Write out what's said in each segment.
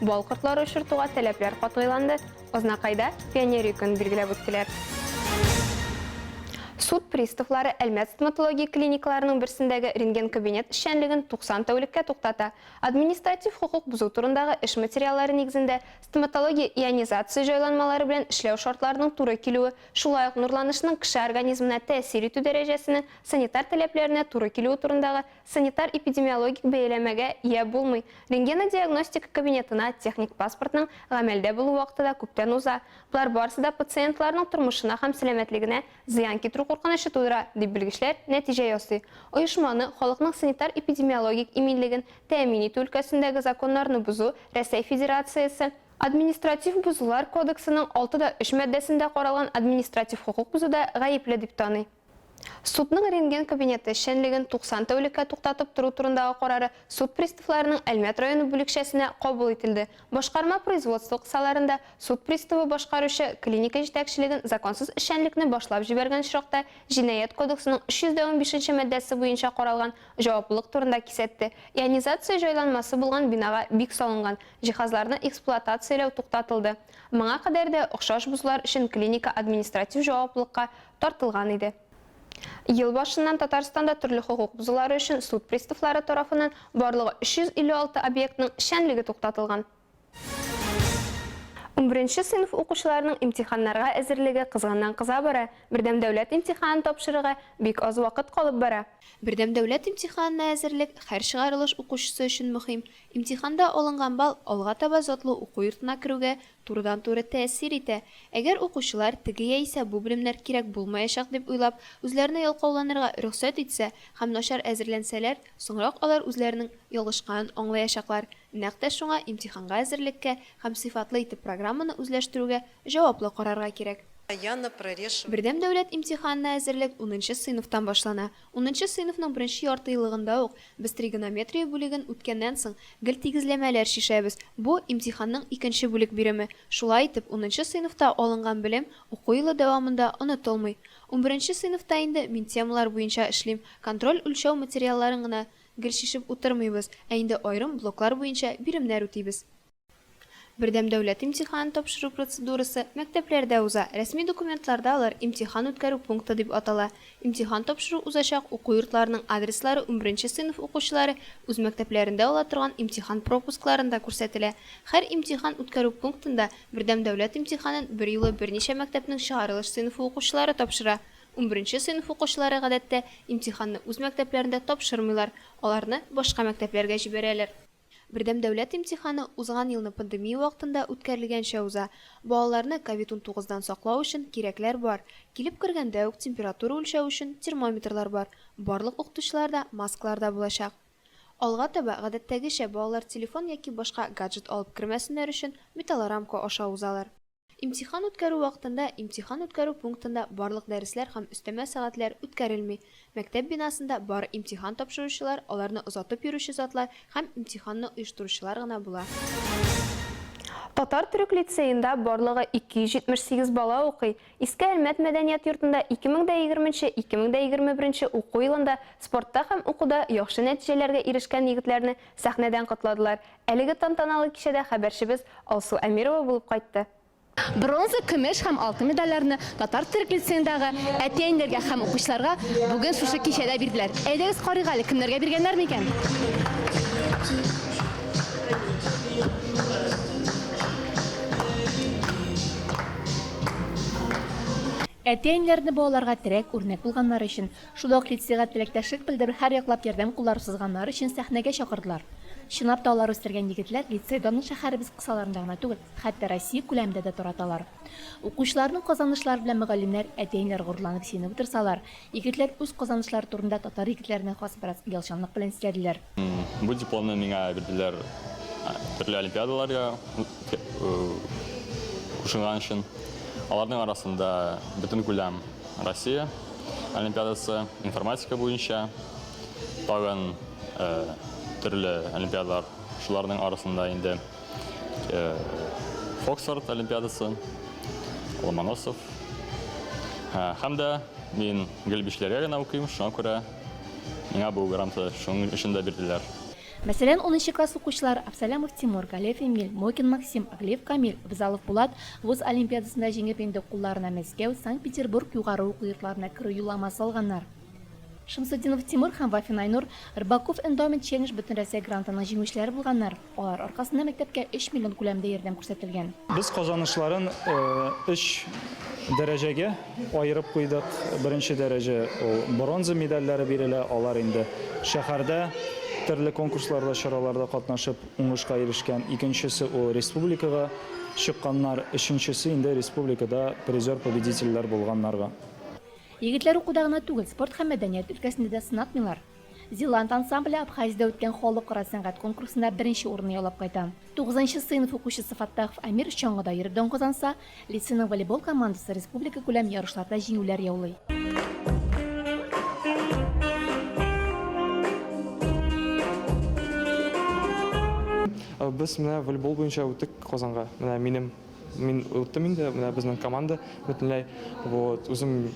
Бал кортлары очыртуга таләпләр катгыйланды. Азнакайда пионерия көнен билгеләп үттеләр. Суд приставлары Әлмәт стоматология клиникаларының берсендәге рентген-кабинет эшчәнлеген 90 тәүлеккә туктата. Административ хокук бозу турындагы эш материаллары нигезендә стоматология ионизация җайланмалары белән эшләү шартларының туры килүе, шулай ук нурланышның кеше организмына тәэсир итү дәрәҗәсенең санитар таләпләренә туры килүе турындагы Санитар-эпидемиологик бәяләмәгә ия булмый, рентгенодиагностика кабинетына техник паспортның гамәлдә булу вакыты да күптән уза, болар барысы да пациентларның тормышына һәм сәламәтлегенә зыян китерү куркынычы тудыра, дип белгечләр нәтиҗә ясый. Оешманы халыкның санитар-эпидемиологик иминлеген тәэмин итү өлкәсендәге законнарны бозу Рәсәй Федерациясе, Административ бозулар кодексының алты да өч маддәсендә каралган административ хокук бозуда гаепле дип таный. Судның рентген кабинеты эшчәнлеген 90 тәүлеккә туктатып тору турындагы карары суд приставларының Әлмәт районы бүлекчәсенә кабул ителде. Башкарма производство кысаларында суд приставы башкаручы клиника җитәкчелеген законсыз эшчәнлекне башлап җибәргән очракта Җинаять кодексының 315 нче маддәсе буенча каралган җаваплылык турында кисәтте. Ионизация җайланмасы булган бинага бик салынган җиһазларны эксплуатацияләү туктатылды. Моңа кадәр дә охшаш бозулар өчен клиника административ җаваплылыкка тартылган иде. Ел башыннан Татарстанда төрле хокук бозулары өчен суд приставлары тарафыннан барлыгы 356 объектның эшчәнлеге туктатылган. Унберенче сыйныф укучыларының имтиханнарга әзерлеге кызганнан-кыза бара, бердәм дәүләт имтиханын тапшырырга бик аз вакыт калып бара. Бердәм дәүләт имтиханына әзерлек һәр чыгарылыш укучысы өчен мөһим. Имтиханда алынган балл алга таба затлы уку йортына керүгә турыдан-туры тәэсир итә, әгәр укучылар теге яисә бу белемнәр кирәк булмаячак дип уйлап, үзләренә ялкауланырга рөхсәт итсә һәм начар әзерләнсәләр, соңрак алар үзләренең ялгышканын аңлаячаклар, нәкъ тә шуңа имтиханга әзерлеккә һәм сыйфатлы итеп программаны үзләштерүгә җаваплы карарга кирәк. Бердәм дәүләт имтиханына әзерлек унынчы сыйныфтан башлана. Унынчы сыйныфның беренче яртыеллыгында ук без тригонометрия бүлеген үткәннән соң, гел тигезләмәләр чишәбез. Бу, имтиханның икенче бүлек биреме. Шулай итеп, унынчы сыйныфта алынган белем уку елы дәвамында онытылмый. Унберенче сыйныфта инде мин темалар буенча эшлим, контроль-үлчәү материалларын гына гел чишеп утырмыйбыз, ә инде аерым блоклар буенча биремнәр үтибез. Бердәм дәүләт имтиханын тапшыру процедурасы мәктәпләрдә уза, рәсми документларда алар имтихан үткәрү пункты дип атала. Имтихан тапшыру узачак уку йортларының адреслары унберенче сыйныф укучылары үз мәктәпләрендә ала торган имтихан пропускларында күрсәтелә. Һәр имтихан үткәрү пунктында бердәм дәүләт имтиханын берьюлы берничә мәктәпнең чыгарылыш сыйныфы укучылары тапшыра. Унберенче сыйныф укучылары, гадәттә, имтиханны үз мәктәпләрендә тапшырмыйлар, аларны башка мәктәпләргә җибәрәләр. Бердәм дәүләт имтиханы узган елны пандемия вакытында үткәрелгәнчә уза. Балаларны ковид унтугыз дан саклау өчен кирәкләр бар. Килеп кергәндә үк температура үлчәү өчен термометрлар бар, барлык укытучылар да маскаларда булачак. Алга таба, гадәттәгечә, балалар телефон яки башка гаджет алып кермәсеннәр өчен металлорамка аша узалар. Имтихан үткәрү вакытында имтихан үткәрү пунктында барлык дәресләр һәм өстәмә сәгатьләр үткәрелми. Мәктәп бинасында бары имтихан тапшыручылар, аларны озатып йөрүче затлар һәм имтиханны оештыручылар гына була. Татар-төрек лицеенда барлыгы 278 бала укый. Иске Әлмәт мәдәният йортында 2020 нче 2021 нче уку елында спортта һәм укуда яхшы нәтиҗәләргә ирешкән егетләрне сәхнәдән котладылар, Әлеге тантаналы кичәдә хәбәрчебез Алсу Әмирова булып кайтты. Бронза, көмеш һәм алтын медальләрне Татар цирк лицеендагы әти-әниләргә һәм укучыларга бүген шушы кичәдә бирделәр. Әйдәгез карыйк әле, кемнәргә биргәннәр микән? Әти-әниләрне балаларга терәк, үрнәк булганнары өчен Шунда ук лицейга теләктәшлек белдереп, һәрьяклап ярдәм куллары сузганнары өчен сәхнәгә чакырдылар. Чынлап та алар үстергән егетләр лицей данын шәһәребез кысаларында гына түгел, хәтта Россия күләмендә дә тараталар. Укучыларның казанышлары белән мөгаллимнәр, әтиәниләр горурланып сөенеп утырсалар, егетләр үз казанышлары турында татар егетләренә хас бераз оялчанлык белән сөйләделәр. Бу дипломны миңа бирделәр төрле олимпиадаларга кушылган өчен. Аларның арасында бөтен күләм Россия олимпиадасы, информатика буенча, тагын төрле олимпиадалар, шуларның арасында инде Фоксфорд олимпиадасы, Ломоносов. Һәм дә мин гел бишләргә генә укыйм, шуңа күрә Миңа бу гранты шуның өчен дә бирделәр. Мәсәлән, унынчы класс укучылары Абсалямов Тимур, Галиев Эмиль, Мокин Максим, Аглиев Камил, Абзалов Булат вуз олимпиадасында җиңеп инде кулларына Мәскәү, Санкт-Петербург югары уку йортларына керү юлламасы алганнар. Шамсутдинов Тимур һәм Вафин Айнур, Рыбаков Эндаумент Челлендж бөтенрәсәй грантының җиңүчеләре булганнар. Алар аркасында мәктәпкә өч миллион күләмендә ярдәм күрсәтелгән. Без казанышларын өч дәрәҗәгә аерып куйдык. Беренче дәрәҗә, ул бронза медальләре бирелә, алар инде шәһәрдә төрле конкурсларда, чараларда катнашып, уңышка ирешкән. Икенчесе, ул республикага чыкканнар. Өченчесе, инде республикада призер-победительләр булганнарга. Егетләр укуда гына түгел, спорт һәм мәдәният өлкәсендә дә сынатмыйлар. Зеланд ансамбле Абхазиядә үткән халыкара сәнгать конкурсында беренче урынны яулап кайта. Тугызынчы сыйныф укучысы Фаттахов Әмир чаңгыда йөреп дан казанса, лицейның волейбол командасы республикакүләм ярышларда җиңүләр яулый. Без менә волейбол буенча үттек Казанга. Менә минем Мин оттым инде, менә безнең команда бөтенләй. Вот, үзем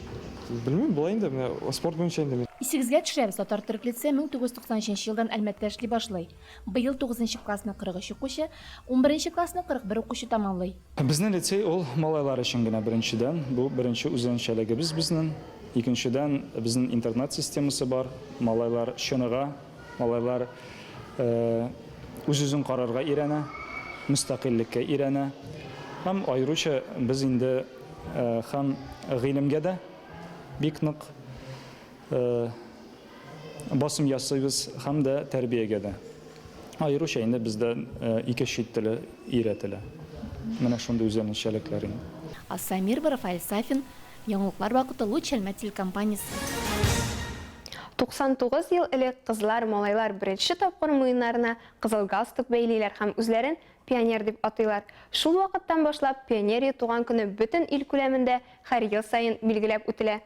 белмим, болай инде, менә спорт буенча инде мин. Исегезгә төшерәбез, Татар-төрек лицее 1993 елдан Әлмәттә эшли башлый. Быел тугызынчы классны 43 укучы, унберенче классны 41 укучы тәмамлый. Безнең лицей ул малайлар өчен генә, беренчедән, бу беренче үзенчәлегебез безнең. Икенчедән, безнең интернат системасы бар, малайлар чыныга. Малайлар үз-үзен карарга өйрәнә, мөстәкыйльлеккә өйрәнә. Һәм аеруча без инде һәм гыйлемгә дә бик нык басым ясыйбыз, һәм дә тәрбиягә дә. Аеруча инде бездә ике чит теле өйрәтелә. Менә шундый үзенчәлекләр инде. Асамир Брафаэль Сафин Яңалыклар вакыты Луч Әлмәт телекомпаниясе. 99 ел элек кызлар, малайлар беренче тапкыр муеннарына кызыл галстук бәйлиләр һәм үзләрен пионер дип атыйлар. Шул вакыттан башлап Пионерия туган көне бөтен ил күләмендә һәр ел саен билгеләп үтелә.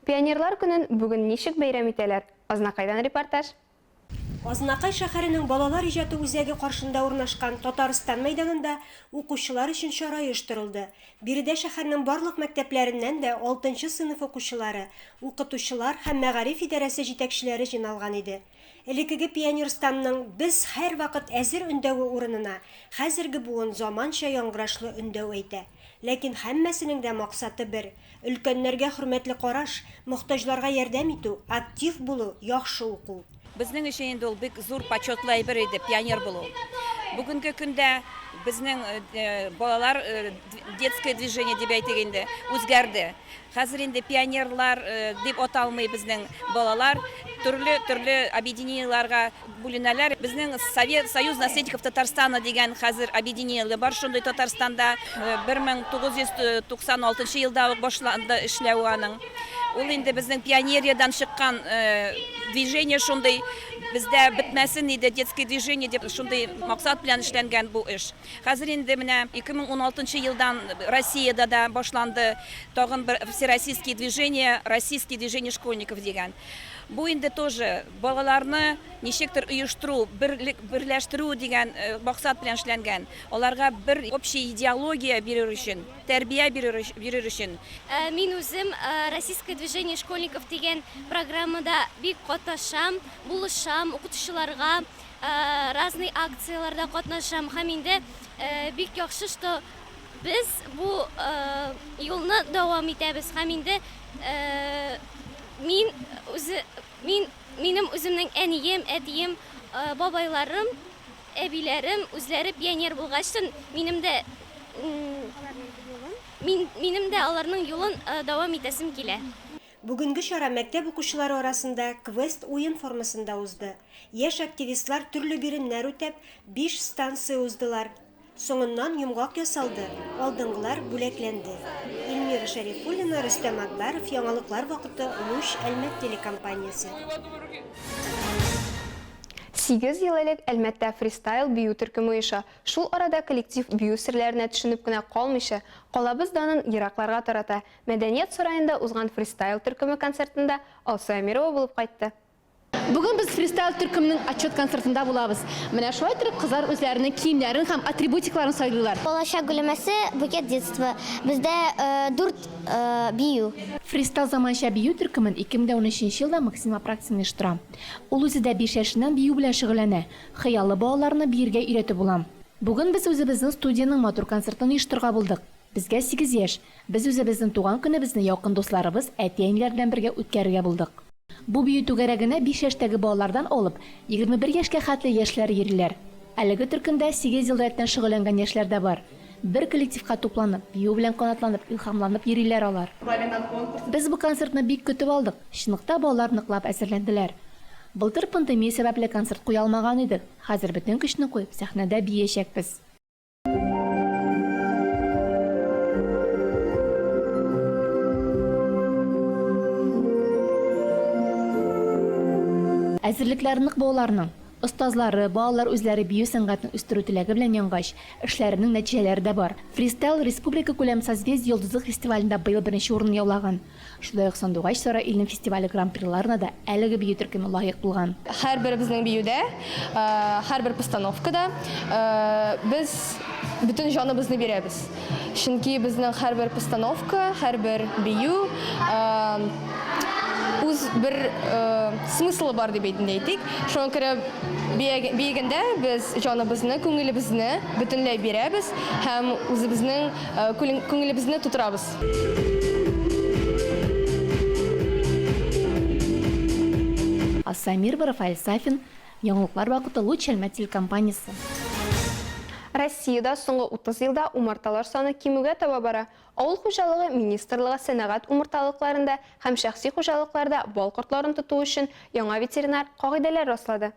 Пионерлар көнен бүген ничек бәйрәм итәләр? Азнакайдан репортаж. Азнакай шәһәренең балалар иҗаты үзәге каршында урнашкан Татарстан мәйданында укучылар өчен чара оештырылды. Биредә шәһәрнең барлык мәктәпләреннән дә алтынчы сыйныф укучылары, укытучылар һәм мәгариф идарәсе җитәкчеләре җыйналган иде. Элеккеге пионерстанның Без һәрвакыт әзер өндәве урынына хәзерге буын заманча яңгырашлы өндәү әйтә. Ләкин һәммәсенең дә максаты бер, өлкәннәргә хөрмәтле караш, мохтаҗларга ярдәм итү, актив булу, яхшы уку. Безнең өчен инде ул бик зур почетлы әйбер иде, пионер булу. Бүгенге көндә безнең балалар детское движение дип әйтик инде, үзгәрде. Хәзер инде пионерлар дип аталмый безнең балалар, төрле-төрле объединениеләргә, бүленәләр. Безнең Совет, Союз наследников Татарстана дигән хәзер объединение бар шундый Татарстанда. 1996 елда ук башланды эшләве аның. Ул инде безнең пионериядән чыккан движение шундый. Бездә бетмәсен иде детское движение дип, шундый максат белән эшләнгән бу эш. Хәзер инде менә 2016 елдан Россиядә дә башланды тагын бер всероссийские движение, Российские движения школьников дигән. Бу инде тоже Балаларны ничектер оештыру, берлек, берләштерү дигән максат белән эшләнгән. Аларга бер общий идеология бирер өчен, тәрбия бирер, бирер өчен. Мин үзем Российское движение школьников дигән программада бик катнашам, булышам, укытучыларга разный акцияләрдә катнашам. Һәм инде бик яхшы, что без бу юлны дәвам итәбез. Һәм инде мин үзе Мин, минем үземнең әнием, әтием, бабайларым, әбиләрем үзләре пионер булгачтын, минем дә, мин, минем дә аларның юлын дәвам итәсем килә. Бүгенге чара мәктәп укучылары арасында квест-уен формасында узды. Яшь активистлар төрле биремнәр үтәп, биш станция уздылар. Соңыннан йомгак ясалды, алдынгылар бүләкләнде. Ильмира Шәрифуллина, Рөстәм Әкбәров, Яңалыклар вакыты, Луч, Әлмәт телекомпаниясе. Сигез ел элек Әлмәттә фристайл бию төркеме оеша. Шул арада коллектив бию серләренә төшенеп кенә калмыйча, калабыз данын еракларга тарата. Мәдәният сараенда узган фристайл төркеме концертында Алсу Әмирова булып кайтты. Бүген без фристайл төркемнең отчет концертында булабыз. Менә шулай торып кызлар үзләренең киемнәрен һәм атрибутикларын сайлыйлар. Балачак гөлемәсе, букет детства. Бездә дүрт бию. Фристайл заманча бию төркемен 2013 елда Максим Апраксин оештыра. Ул үзе дә биш яшеннән бию белән шөгыльләнә. Хыялы балаларны биергә өйрәтеп була. Бүген без үзебезнең студиянең матур концертын оештырырга булдык. Безгә сигез яшь. Без үзебезнең туган көнебезне якын дусларыбыз, әти-әниләр белән бергә үткәрергә булдык. Бу бию түгәрәгенә биш яшьтәге балалардан алып, егерме бер яшькә хәтле яшьләр йөриләр. Әлеге төркемдә сигез ел рәттән шөгыльләнгән яшьләр дә бар. Бер коллективка тупланып, бию белән канатланып, илһамланып йөриләр алар. Без бу концертны бик көтеп алдык, чынлыкта балалар ныклап әзерләнделәр. Былтыр пандемия сәбәпле концерт куя алмаган идек, хәзер бөтен көчне куеп, сәхнәдә биячәкбез. Әзерлекләр нык булуларның, остазлары, балалар үзләре бию сәнгатен үстерү теләге белән янгач, эшләренең нәтиҗәләре дә бар. Фристайл республикакүләм Созвездие йолдызлык фестивалендә быел беренче урынны яулаган. Шулай ук Сандугач сары илнең фестивале гран-приларына да әлеге бию төркеме лаек булган. Һәрберебезнең биюдә, һәрбер постановкада без бөтен җаныбызны бирәбез. Чөнки безнең һәрбер постановка, һәрбер бию үз бер смыслы бар дип инде әйтик. Шуңа күрә биегәндә без җаныбызны, күңелебезне бөтенләй бирәбез һәм үзебезнең күңелебезне тутырабыз. Асай Мирба, Рафаэль Сафин, Яңалыклар вакыты, Луч Әлмәт телекомпаниясе. Россиядә соңгы 30 елда умарталар саны кимүгә таба бара. Авыл хуҗалыгы министрлыгы сәнәгать умарталыкларында һәм шәхси хуҗалыкларда бал кортларын тоту өчен яңа ветеринар кагыйдәләр раслады.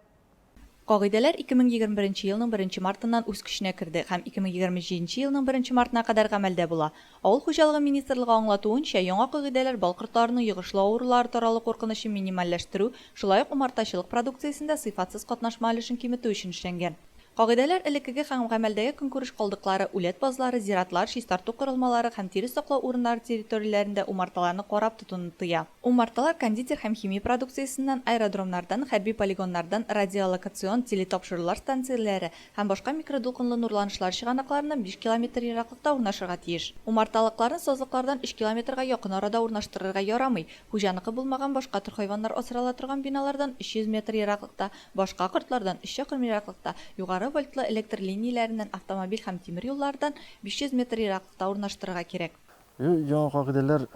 Кагыйдәләр 2021 елның беренче мартыннан үз көченә керде һәм 2027 елның беренче мартына кадәр гамәлдә була. Авыл хуҗалыгы министрлыгы аңлатуынча, яңа кагыйдәләр бал кортларының йогышлы авырулары таралу куркынычын минимальләштерү, шулай ук умартачылык продукциясендә сыйфатсыз катнашма өлешен киметү өчен эшләнгән. Кагыйдәләр элеккеге һәм гамәлдәге көнкүреш калдыклары, үләт базлары, зиратлар, чистарту корылмалары һәм тире саклау урыннары территорияләрендә умарталарны карап тотуны тыя. Умарталар кондитер һәм химия продукциясеннән, аэродромнардан, хәрби полигоннардан радиолокацион телетапшырулар станцияләре һәм башка микродулкынлы нурланышлар чыганакларыннан биш километр ераклыкта урнашырга тиеш. Умарталыкларны сазлыклардан өч километрга якын арада урнаштырырга ярамый, хуҗаныкы булмаган башка төр хайваннар асрала торган биналардан өч йөз метр ераклыкта, башка кортлардан өч чакрым ераклыкта, югары вольтлы электр линияләреннән, автомобиль һәм тимер юллардан биш йөз метр ераклыкта урнаштырырга кирәк. И, яңа кагыйдәләр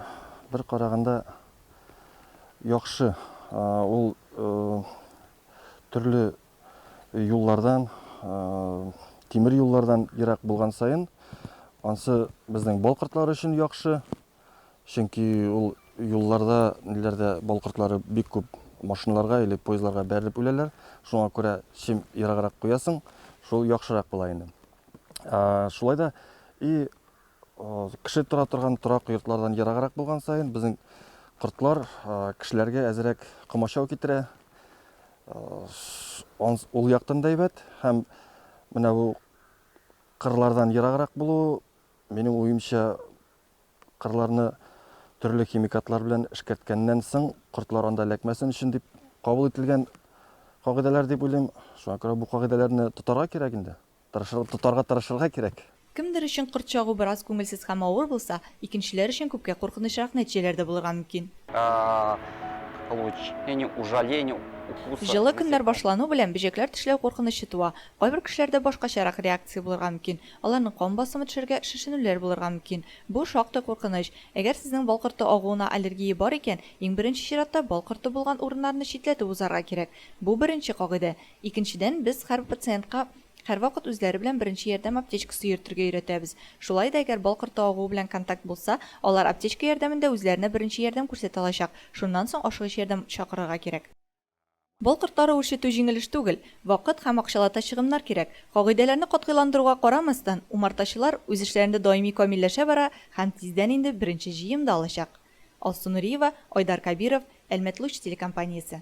бер караганда яхшы. Ул төрле юллардан, тимер юллардан ерак булган саен, ансы безнең бал кортлары өчен яхшы. Чөнки ул юлларда, ниләрдә бал кортлары бик күп машиналарга или поездларга бәрелеп үләләр. Шуңа күрә чем ераграк куясың, шул яхшырак була инде. Шулай да и Кеше тора торган торак йортлардан ераграк булган саен, безнең кортлар кешеләргә әзерәк комачау китерә. Ул яктан да әйбәт һәм менә бу кырлардан ераграк булу, минем уемча, кырларны төрле химикатлар белән эшкәрткәннән соң, кортлар анда эләкмәсен өчен дип кабул ителгән кагыйдәләр дип уйлыйм. Шуңа күрә бу кагыйдәләрне тотарга кирәк инде. Тырышыр, тотарга тырышырга кирәк. Кемдер өчен корт чагу бераз күңелсез һәм авыр булса, икенчеләр өчен күпкә куркынычрак нәтиҗәләр дә булырга мөмкин. Җылы көннәр башлану белән бөҗәкләр тешләү куркынычы туа. Кайбер кешеләрдә башкачарак реакция булырга мөмкин. Аларның кан басымы төшәргә, шешенүләр булырга мөмкин. Бу, шактый куркыныч. Әгәр сезнең бал корты агуына аллергия бар икән, иң беренче чиратта бал корты булган урыннарны читләтеп узарга кирәк. Бу, беренче кагыйдә. Икенчедән, без һәрбер пациентка һәрвакыт үзләре белән беренче ярдәм аптечкасы йөртергә өйрәтәбез. Шулай да әгәр бал корты агуы белән контакт булса, алар аптечка ярдәмендә үзләренә беренче ярдәм күрсәтә алачак, шуннан соң ашыгыч ярдәм чакырырга кирәк. Бал кортлары үрчетү җиңел эш түгел, вакыт һәм акчалата чыгымнар кирәк. Кагыйдәләрне катгыйландыруга карамастан, умартачылар үз эшләрендә даими камилләшә бара һәм тиздән инде беренче җыем да алачак. Алсу Нуриева, Айдар Кабиров, Әлмәтлуч телекомпаниясе.